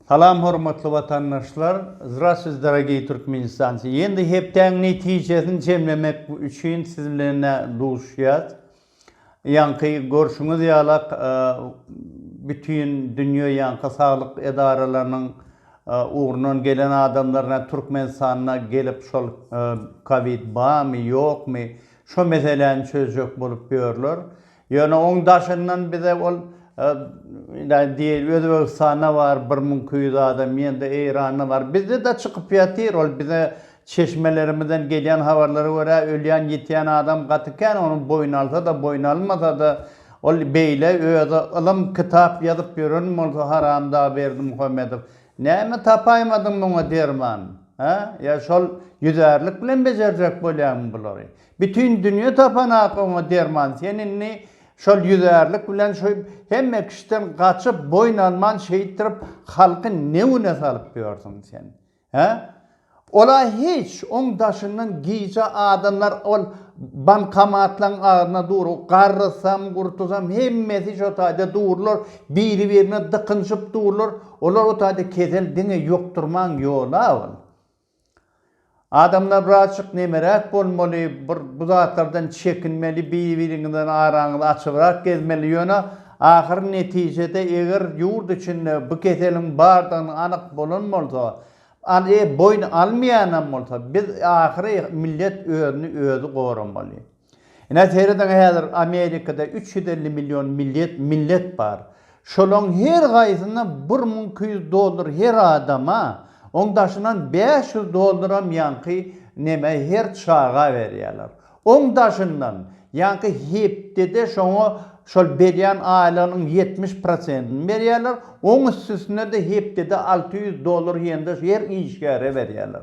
Salam hormatly watandaşlar Zdrastwyt dorogiý Türkmenistancy ýendi hepdäň netijesini jemlemek üçin siz bilen duşýas ýaňky görşüňiz ýalak bütin dünýe ýaňky saglyk edaralarynyň ugrundan gelen adamlaryna Türkmenistanda gelip şol kowid bamy ýokmy şo meseläni çözjek bolup ýörler Ýöne oň daşyndan bize ol diýeli Özbegistanda bar bir müň iki ýüz adam ýende Eýranda bar. Bizde-de çykyp ýatyr ol bize çeşmelerimizden gelýän habarlara görä ölýän ýitýän adam gaty kän onuň boýun alsa-da boýun almasa-da ol beýle özi ylym kitap ýazyp ýören bolsa haramdag Berdimuhamedow näme tapaýmadyň muňa derman? Hä? Ýa şol ýüzärlik bilen bejerjek bolýaňmy bulary? Bütin dünýe tapanap oňa derman sen indi şol ýüzärlik bilen şu hemme kişiden gaçyp boýun alman şeýtdirip halky ne güne salyp ýörsüň sen he ola hiç oň daşyndan gije adamlar ol bankomatlaň agzyna dur garrysam gurtuzam hemmesi şo taýda durlar biri birine dykynşyp durlar olar o taýda kesel diňe ýokdurman ýola ol. Adamlar birazjyk nemeräk bolmaly, bir bu zatlardan çekinmeli, bir-biriňiziň araňyzy açybrak gezmeli, ýöne ahyr netijede eger ýurt içinde bu keseliň bardygyny anyk bolan bolsa, al e boýun almaýanam bolsa, biz ahyry millet özüni özi goramaly. Ine serediň häzir Amerikada üç ýüz elli million milliet millet bar. Şolaň her gaýsyna bir müň iki ýüz dollar her adama oň daşyndan bäş ýüz dollaram ýaňky neme her çaga berýäler. Oň daşyndan ýaňky hepdede şoňa şol berýän aýlygynyň ýetmiş prosentini berýäler. Oň üstüsine-de hepdede alty ýüz dollar ýene-de her işgäre berýäler.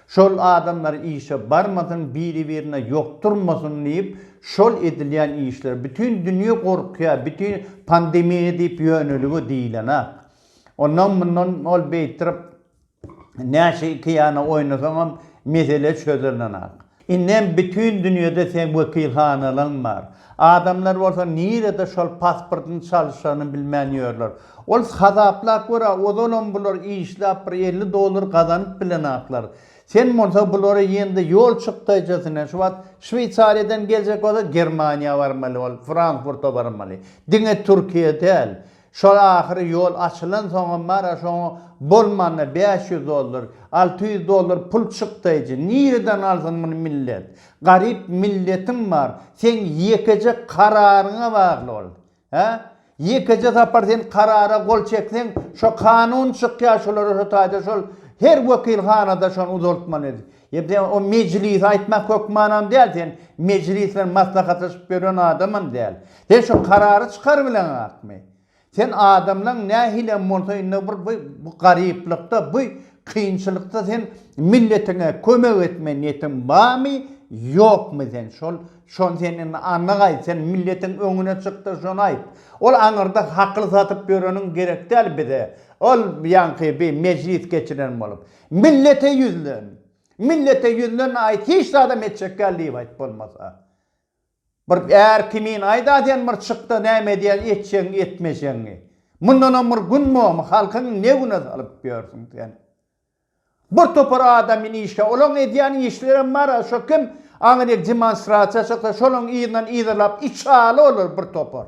Şol adamlar işe barmasyn, biri-birine ýokdurmasyn diýip, şol edilýän işler, bütin dünýe gorkýar, bütin pandemiýa diýip ýönelige diýilenak. Ondan mundan ol beýtirip näçe iki ýana oýnasaňam mesele çözülenak. Indem bütin dünýede seň wekilhanalaň bar. Adamlar bolsa nirede şol pasportyny çalyşanyny bilmän ýörler. Ol hasaplap gör-ä, ozalam bular işläp bir elli dollar gazanyp bilenaklar. Sen bolsa bulary ýende ýol çykdaýjasyn-a. Şu wagt Şweýsariýadan geljek bolsa Germaniýa barmaly ol, Frankfurta barmaly. Diňe Türkiýe däl. Şol ahyry ýol açylansoňam bara şoňa bolmanda bäş ýüz dollar, alty ýüz dollar pul çykdaýjy. Nireden alsyn muny millet? Garyp milletiň bar. Seň ýekeje kararyňa bagly ol. Hä? Ýekeje sapar sen karara gol çekseň, şo kanun çykýar şolara şo taýda şol her wekilhanada şony uzaltmaly. Ýa-da o mejlise aýtmak hökmanam däl, sen mejlis bilen maslahatlaşyp ýören adamam däl. Sen şu karary çykarybileňakmy? Sen adamlaň nähilem bolsa indi bir bu bu garyplykda, bu kynçylykda sen milletiňe kömek etme niýetiň barmy, ýokmy sen? Şol şony sen indi anyk aýt, sen milletiň öňüne çyk-da şony aýt. Ol aňyrda hakyl satyp ýöreniň gerek däl bize. Ol ýaňky bi mejlis geçiren bolup. Millete ýüzlen, millete ýüzlen aýt, hiç zada metjekgäl diýip aýt bolmasa. Bir är kimin aýt-a sen bir çyk-da näme edýäň etjegiňi etmejegiňi. Mundanam bir gün bormy, halkyň ne güne salyp ýörsüň sen. Bir topar adamyn işgär, olaryň edýän işlerem bar-a, şo kim aňryk demonstrasiýa çyksa şolaryň yzyndan yzarlap içaly olar bir topar.